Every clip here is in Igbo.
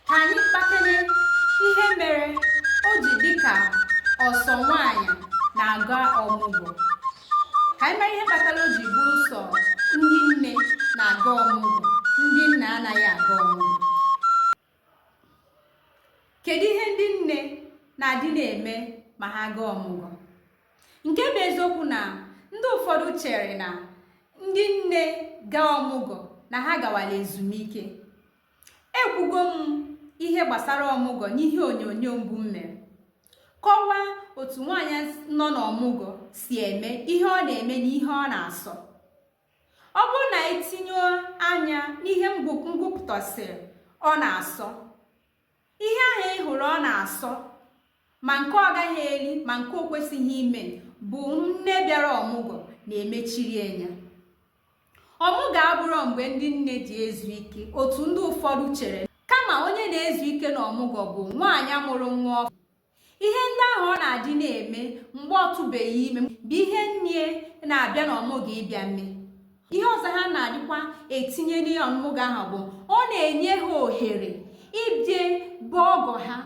Ka anyị kpakele ihe mere o ji dị ka ọ sọ nwaanyị na-aga ọmụgwọ. Ka anyị mara ihe kpatara o ji bụrụ sọ ndị nne na-aga ọmụgwọ, ndị nna anaghị aga ọmụgwọ. Kedu ihe ndị nne na-adị na-eme ma ha gaa ọmụgwọ? Nke bụ eziokwu na ndị ụfọdụ chere na ndị nne gaa ọmụgwọ na ha gawala ezumike. ekwugo m ihe gbasara ọmụgwọ n'ihe onyonyo mbụ m mere kọwaa otu nwaanyị nọ n'ọmụgwọ si eme ihe ọ na-eme na ihe ọ na-asọ ọ bụrụ na i tinye anya n'ihe m gụpụtasịrị ọ na-asọ ihe ahụ ị hụrụ ọ na-asọ ma nke ọ gaghị eri ma nke o kwesịghị ime bụ nne bịara ọmụgwọ na-emechiri ya ọmụgwọ abụrọ mgbe ndị nne ji ezu ike otu ndị ụfọdụ chere kama onye na-ezu ike na ọmụgwọ bụ nwaanyị mụrụ nwa ọfụ ihe ndị ahụ ọ na-adị na-eme mgbe ọ tụbeghị ime bụ ihe nne na-abịa na ọmụgwọ ịbịa mee ihe ọzọ ha na-adịkwa etinye n'ihe ọmụgwọ ahụ bụ ọ na-enye ha ohere ịbịa be ọgọ ha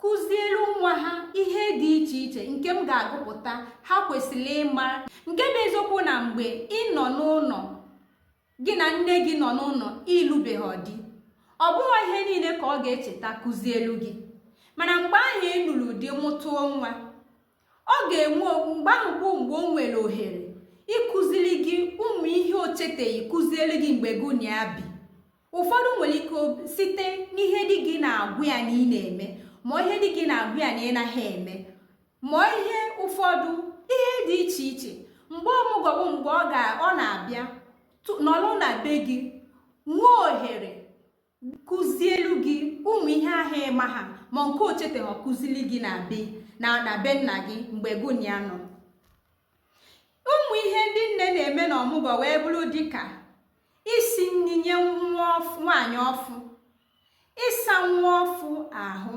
kụzielu nwa ha ihe dị iche iche nke m ga-agụpụta ha kwesịrị ịma nke bụ eziokwu na mgbe ị nọ n'ụlọ gị na nne gị nọ n'ụlọ ị lụbeghị di ọ bụghị ihe niile ka ọ ga-echeta kụzielu gị mana mgbe ahụ ị lụrụ di mụtụọ nwa ọ ga-enwe mgbe ahụ bụ mgbe o nwere ohere ịkụziri gị ụmụ ihe o cheteghị kụzielu gị mgbe gị na ya bi ụfọdụ nwere ike site n'ihe di gị na-agwa ya na ị na-eme ma ihe di gị na-agwa ya na ị naghị eme ma ọ ihe ụfọdụ ihe dị iche iche mgbe ọmụgwọ bụ mgbe ọ ga ọ na-abịa nọrọ na be gị nwee ohere kụzielu gị ụmụ ihe ahụ ị maha ma nke o chetaha kụzili gị na be nna na be nna gị mgbe gị na ya nọ ụmụ ihe ndị nne na-eme na ọmụgwọ wee bụrụ dịka isi nri nye nwaanyị ọfụ ịsa nwa ọfụ ahụ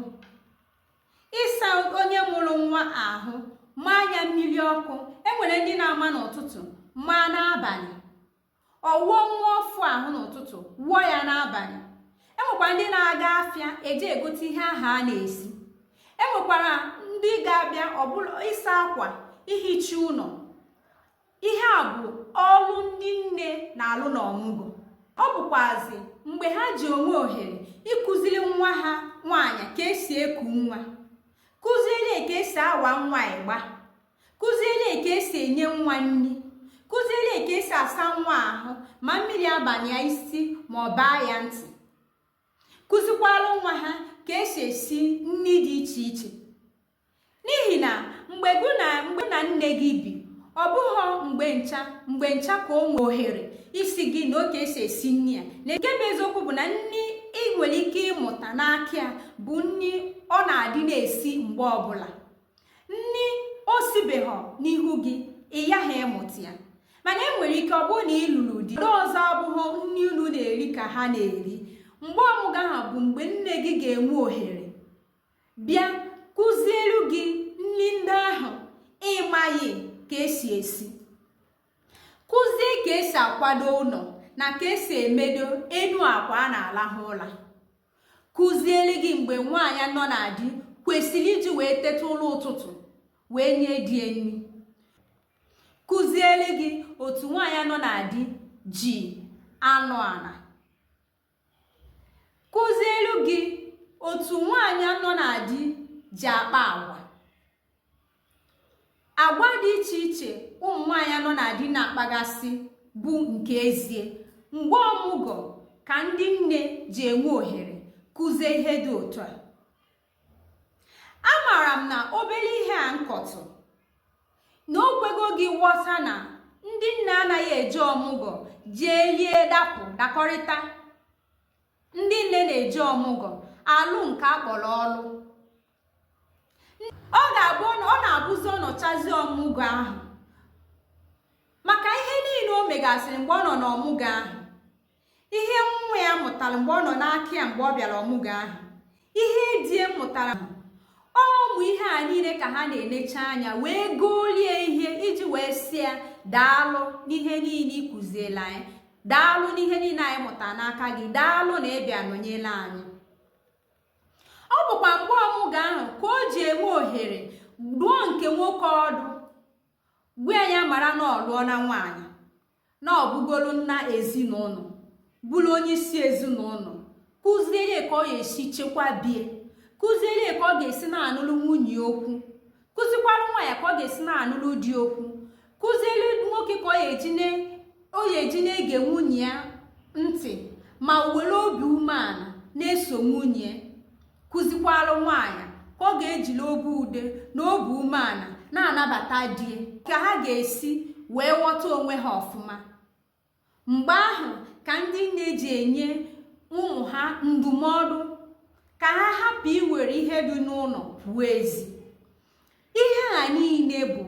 ịsa onye mụrụ nwa ahụ maa ya mmiri ọkụ enwere ndị na-ama n'ụtụtụ maa n'abalị ọ wụọ nwa ọfụ ahụ n'ụtụtụ wụọ ya n'abalị enwekwara ndị na-aga afịa eje egote ihe ahụ a na-esi enwekwara ndị ga-abịa ọ bụrụ ịsa akwa ihicha ụlọ ihe a bụ ọrụ ndị nne na-alụ n'ọmụgwọ ọ bụkwazị mgbe ha ji enwe ohere ịkụziri nwa ha nwaanyị ka esi eku nwa kụziere ka esi awa nwa ịgba kụziere ka esi enye nwa nri kụziere ka esi asa nwa ahụ ma mmiri abana ya isi ma ọ baa ya ntị kụzikwara nwa ha ka esi esi nri dị iche iche N'ihi na mgbe gị na nne gị bi ọ bụghị mgbe ncha mgbe ncha ka o nwere ohere ịsị gị nee ka esi esi nri a na nke bụ eziokwu bụ na nri ị nwere ike ịmụta n'aka ya bụ nri ọ na-adị na-esi mgbe ọbụla nri o sibeghọ n'ihu gị ị yaghị ịmụta ya mana e nwere ike ọ bụrụ na ị lụrụ di ndị ọzọ ọ bụghị nri unu na-eri ka ha na-eri mgbe ọmụgwọ ahụ bụ mgbe nne gị ga-enwe ohere bịa kụzielu gị nri ndị ahụ ịmaghị ka esi esi kụzie ka esi akwado ụlọ na ka esi emedo enu akwa a na-alahụ ụla kụzielu gị mgbe nwaanyị nọ na di kwesịrị iji wee teta ụla ụtụtụ wee nye di ya nri kụzielu gị otu nwaanyị nọ na di ji anọ ala kụzielu gị otu nwaanyị nọ na di ji akpa agwa agwa dị iche iche ụmụ nwaanyị nọ na di na-akpagasị bụ nke ezie mgbe ọmụgọ ka ndị nne ji enwe ohere kụzie ihe dị otu a amaara m na obere ihe a m kọtụ na o kwego gị ghọta na ndị nne anaghị eje ọmụgọ jee lie dapụ dakọrịta ndị nne na-eje ọmụgọ alụ nke a kpọrọ ọlụ ọ ga-abụ ọ na-abụzi ọ nọchazi ọmụgọ ahụ maka ihe niile o megasịrị mgbe ọ nọ n'ọmụgọ ahụ ihe nwa ya mụtara mgbe ọ nọ n'aka ya mgbe ọ bịara ọmụgwọ ahụ ihe di ya mụtara ọ ụmụ ihe a niile ka ha na-enecha anya wee goolu ya ihe iji wee sị ya daalụ n'ihe niile ị kụzielu anyị daalụ n'ihe niile anyị mụtara n'aka gị daalụ na ịbịa nọnyelu anyị ọ bụkwa mgbe ọmụgwọ ahụ ka o ji enwe ohere dụọ nke nwoke ọdụ gwa ya mara na ọ lụọna nwaanyị na ọ bụgoro nna ezinụlọ bụrụ onye isi ezinụlọ kụziere ya ka ọ ga-esi chekwa be ya kụziere ya ka ọ ga-esi na-anụrụ nwunye okwu kụzikwara nwa ya ka ọ ga-esi na-anụrụ di okwu kụziere nwoke ka ọ ga-eji na-ege nwunye ya ntị ma were obi umeala na-eso nwunye kụzikwaalụ nwaanyị ka ọ ga-ejili obi ude na obi umeala na-anabata di ka ha ga-esi wee ghọta onwe ha ọfụma mgbe ahụ ka ndị nne ji enye ụmụ ha ndụmọdụ ka ha hapụ iwere ihe dị n'ụlọ pụọ ezi ihe a niile bụ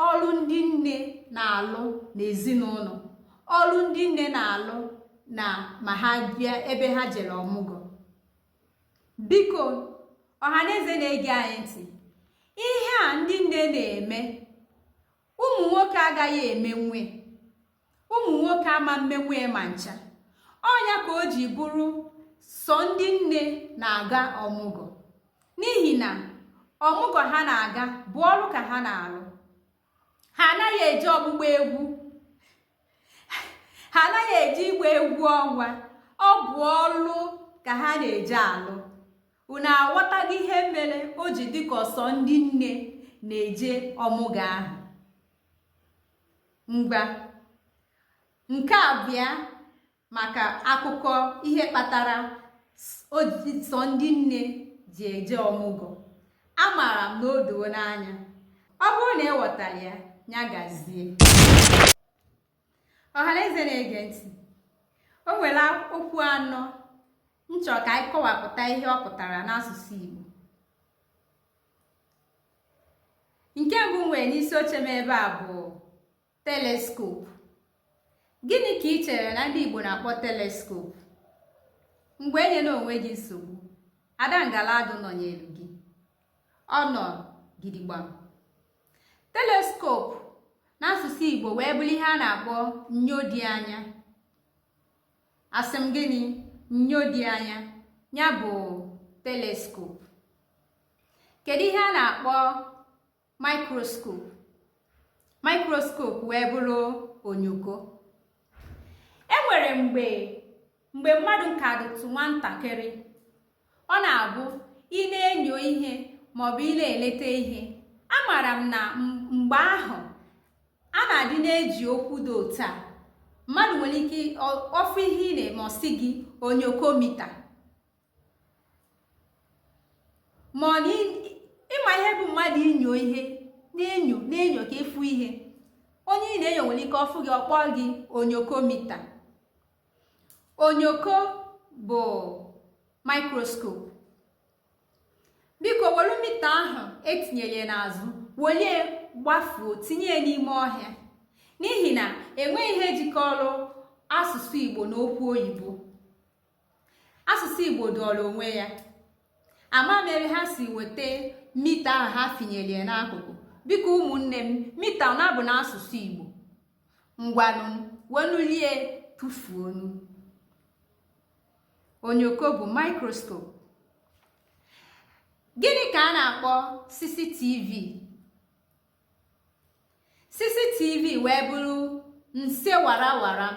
ọrụ ndị nne na-alụ n'ezinụlọ ọrụ ndị nne na-alụ na ma ha bịa ebe ha jere ọmụgwọ biko ọhaneze na-ege anyị ntị ihe a ndị nne na-eme ụmụ nwoke agaghị emenwe ụmụ nwoke ama emenwe ma ncha ọ nya ka o ji bụrụ sọ ndị nne na-aga ọmụgwọ n'ihi na ọmụgwọ ha na-aga bụ ọrụ ka ha na-arụ ha anaghị eje ọgbụgba egwu ha anaghị eje ịgba egwu ọnwa ọ bụ ọlụ ka ha na-eje alụ unu aghọtago ihe mere o ji dịka ọ sọ ndị nne na-eje ọmụgwọ ahụ ngwa nke a bụ ya maka akụkọ ihe kpatara sọ ndị nne ji eje ọmụgwọ amaara m na o doo unu anya ọ bụrụ na ị ghọtara ya ya gazie ọhaneze na-ege ntị o nwere okwu anọ m chọ ka anyị kọwapụta ihe ọ pụtara n'asụsụ Igbo nke mbụ m nwere n'isi oche m ebe a bụ telescope gịnị ka ị chere na ndị Igbo na-akpọ teleskop ngwa enyena onwe gị nsogbu ada ngala adụ nọnyere gị ọ nọ gidigbam telescope n'asụsụ Igbo wee bụrụ ihe a na-akpọ nyo dị anya asị m gịnị nyo dị anya ya bụ telescope kedu ihe a na-akpọ microscope microscope wee bụrụ onyoko e nwere mgbe mgbe mmadụ ka dịtụ nwatakịrị ọ na-abụ ị na-enyo ihe maọbụ ị na-eleta ihe amaara m na mgbe ahụ a na-adị na-eji okwu dị otu a mmadụ nwere ike ọ fụ ihe ị na-eme ọ sị gị onyokomita ma ọ na ị ma ihe bụ mmadụ inyo ihe na-enyo na-enyo ka ị fụ ihe onye ị na-enyo nwere ike ọ fụ gị ọ kpọ gị onyokomita onyoko bụ microscope biko welu mita ahụ e tinyere n'azụ welie gbafuo tinye ya n'ime ọhịa n'ihi na enweghị ihe jikọrọ asụsụ igbo na okwu oyibo asụsụ igbo zuoro onwe ya ama m ebe ha si weta mita ahụ ha finyere ya n'akụkụ biko ụmụnne m mita ọ na-abụ n'asụsụ igbo ngwanụ wenulie tụfuonụ onyoko bụ microscope gịnị ka a na-akpọ cctv cctv wee bụrụ nse waram waram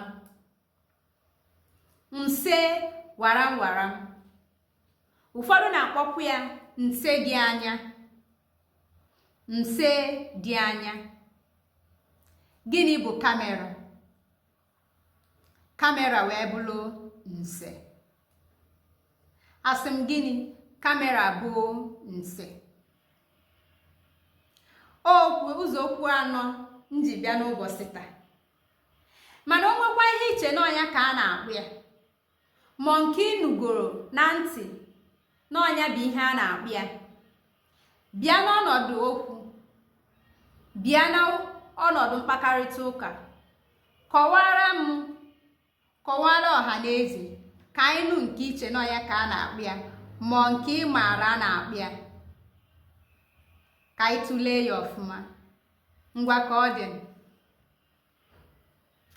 nse waram waram ụfọdụ na-akpọkwu ya nse dị anya nse dị anya gịnị bụ camera camera wee bụrụ nse asị m gịnị camera bụ nse okwu ụzọ okwu anọ m ji bịa n'ụbọchị taa mana o nwekwa ihe i che na ọ nya ka a na-akpọ ya ma nke ị nụgoro na ntị na ọ nya bụ ihe a na-akpọ ya bịa n'ọnọdụ okwu bịa n'ọnọdụ mkpakarịta ụka kọwaara m kọwaara ọha na eze ka anyị nụ nke i che na ọ ya ka a na-akpọ ya ma nke ị maara a na-akpọ ya ka anyị tụlee ya ọfụma ngwa ka ọ dị